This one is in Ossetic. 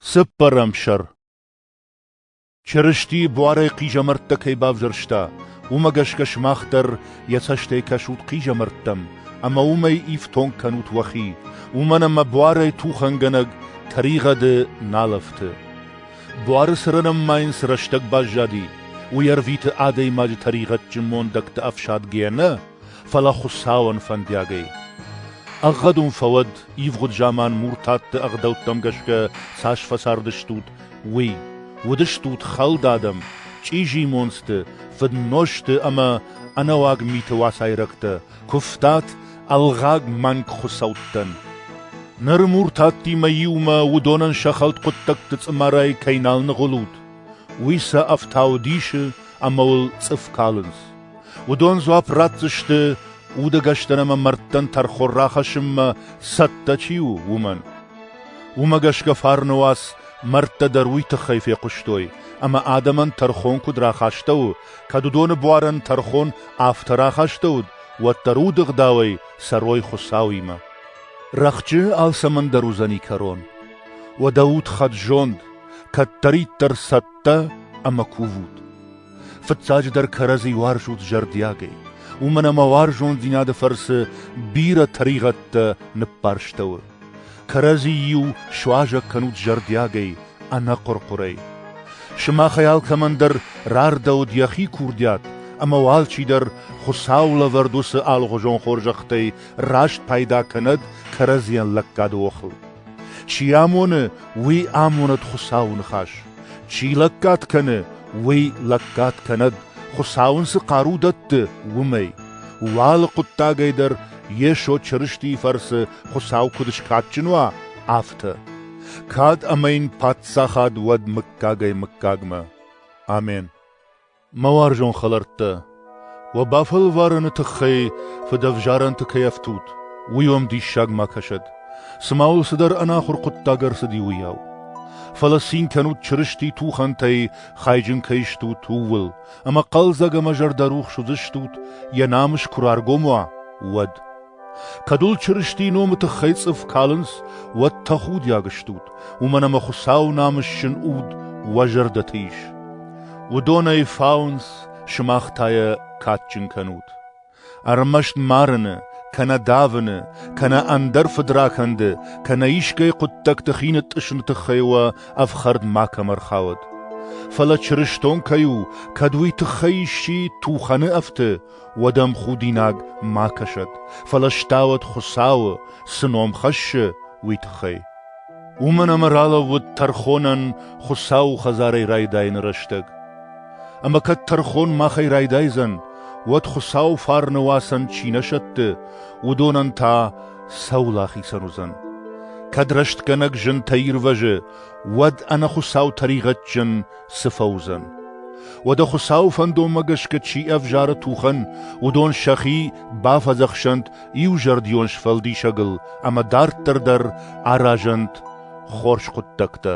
Цыппӕрӕм сӕр Чырысти буарӕй хъизӕмӕрттӕ кӕй бавзӕрста, уымӕ гӕсгӕ сымах дӕр йӕ цӕстӕй кӕсут хъизӕмӕрттӕм ӕмӕ уымӕй ифтонг кӕнут уӕхи, уымӕн ӕмӕ буарӕй тухӕнгӕнӕг тӕригъӕды нал ӕфты. Буары цырынӕн ма йын цы рӕстӕг баззади, уый ӕрвиты адӕймаджы тӕригъӕдджын мондӕгты ӕфсадгӕйӕ нӕ, фӕлӕ Хуыцауӕн фӕндиагӕй. Ӕгъгъӕдун фӕуӕд, ивгъуыд заман муртатты ӕгъдӕуттӕм гӕсгӕ цас фӕцардыстут, уый. Уыдыстут хӕлд адӕм, чъизи монцты, фыднозты ӕмӕ ӕнӕуаг миты уацайрӕгтӕ, куывтат ӕлгъаг мӕнг хуыцӕуттӕн. Ныр муртаттимӕ иумӕ уыдонӕн сӕ хӕлд хъуыддӕгты цъымарӕй кӕй нал ныгъуылут, уый сӕ ӕфтау дисы ӕмӕ уыл цъыф калынц. Уыдон дзуапп ратдзысты, удӕгӕстӕн ӕмӕ мӕрдтӕн тӕрхон рахӕссынмӕ цӕттӕ чи у, уымӕн. Уымӕ гӕсгӕ фарны уац мӕрдтӕ дӕр уый тыххӕй фехъуыстой, ӕмӕ адӕмӕн тӕрхон куыд рахастӕуы, кӕд уыдоны буарӕн тӕрхон афтӕ рахастӕуыд, уӕддӕр удыгъдауӕй цӕрой Хуыцауимӕ. Рӕхджы алцӕмӕн дӕр уыдзӕни кӕрон. Уӕдӕ ут хӕд-зонд, кӕддӕриддӕр цӕттӕ ӕмӕ кувут. Фыццаджыдӕр кӕрӕдзи уарзут зӕрдиагӕй, уымӕн ӕмӕ уарзондзинады фӕрцы бирӕ тӕригъӕдтӕ ныббарстӕуы. Кӕрӕдзи-иу суазӕг кӕнут зӕрдиагӕй, ӕнӕхъуыр-хъуырӕй. Сымахӕй алкӕмӕн дӕр рардӕуыд йӕхи курдиат, ӕмӕ уал чидӕр Хуыцауы лӕвӕрд уыцы алыгъуызон хорзӕхтӕй раст пайда кӕнӕд кӕрӕдзийӕн лӕггады охыл. Чи амоны, уый амонӕд Хуыцауы ныхас. Чи лӕггад кӕны, уый лӕггад кӕнӕд, Хуыцау ын цы хъару дӕтты, уымӕй. Уӕ алы хъуыддагӕй дӕр Йесо Чырыстийы фӕрцы Хуыцау куыд скадджын уа, афтӕ. Кад ӕмӕ йын паддзахад уӕд мыггагӕй-мыггагмӕ. Амен. Мӕ уарзон хӕлӕрттӕ, уӕ бафӕлварӕны тыххӕй фыдӕвзарӕнты кӕй ӕфтут, уый уӕм диссаг ма кӕсӕд, цыма уыл цыдӕр ӕнахуыр хъуыддаг ӕрцыди, уыйау. Фӕлӕ цин кӕнут Чырысти тухӕнтӕй хайджын кӕй стут, ууыл, ӕмӕ хъӕлдзӕг ӕмӕ зӕрдӕрухс уыдзыстут, йӕ намыс куы раргом уа, уӕд. Кӕд уыл Чырыстийы номы тыххӕй цъыф калынц, уӕд тӕхудиаг стут, уымӕн ӕмӕ Хуыцауы намысджын уд уӕ зӕрдӕты ис. Уыдон ӕй фауынц, сымах та йӕ кадджын кӕнут. Ӕрмӕст марыны, кӕнӕ давыны, кӕнӕ ӕндӕр фыдракӕнды, кӕнӕ искӕй хъуыддӕгты хи нытътъысыны тыххӕй уӕ ӕфхӕрд макӕм ӕрхауӕд. Фӕлӕ чырыстон кӕй у, кӕд уый тыххӕй исчи тухӕны ӕфты, уӕд ӕм худинаг ма кӕсӕд, фӕлӕ стауӕд Хуыцауы, цы ном хӕссы, уый тыххӕй. Уымӕн ӕмӕ ралӕууыд тӕрхонӕн Хуыцауы хӕдзарӕй райдайыны рӕстӕг. Ӕмӕ кӕд тӕрхон махӕй райдайдзӕн, уӕд Хуыцауы фарны уацӕн чи нӕ сӕтты, уыдонӕн та сӕ уыл ахицӕн уыдзӕн. Кӕд рӕстгӕнӕг зынтӕ ирвӕзы, уӕд ӕнӕ Хуыцау тӕригъӕдджын цы фӕуыдзӕн? Уӕдӕ Хуыцауы фӕндонмӕ гӕсгӕ чи ӕвзары тухӕн, уыдон сӕхи бафӕдзӕхсӕнт иузӕрдион сфӕлдисӕгыл ӕмӕ дарддӕр дӕр аразӕнт хорз хъуыддӕгтӕ.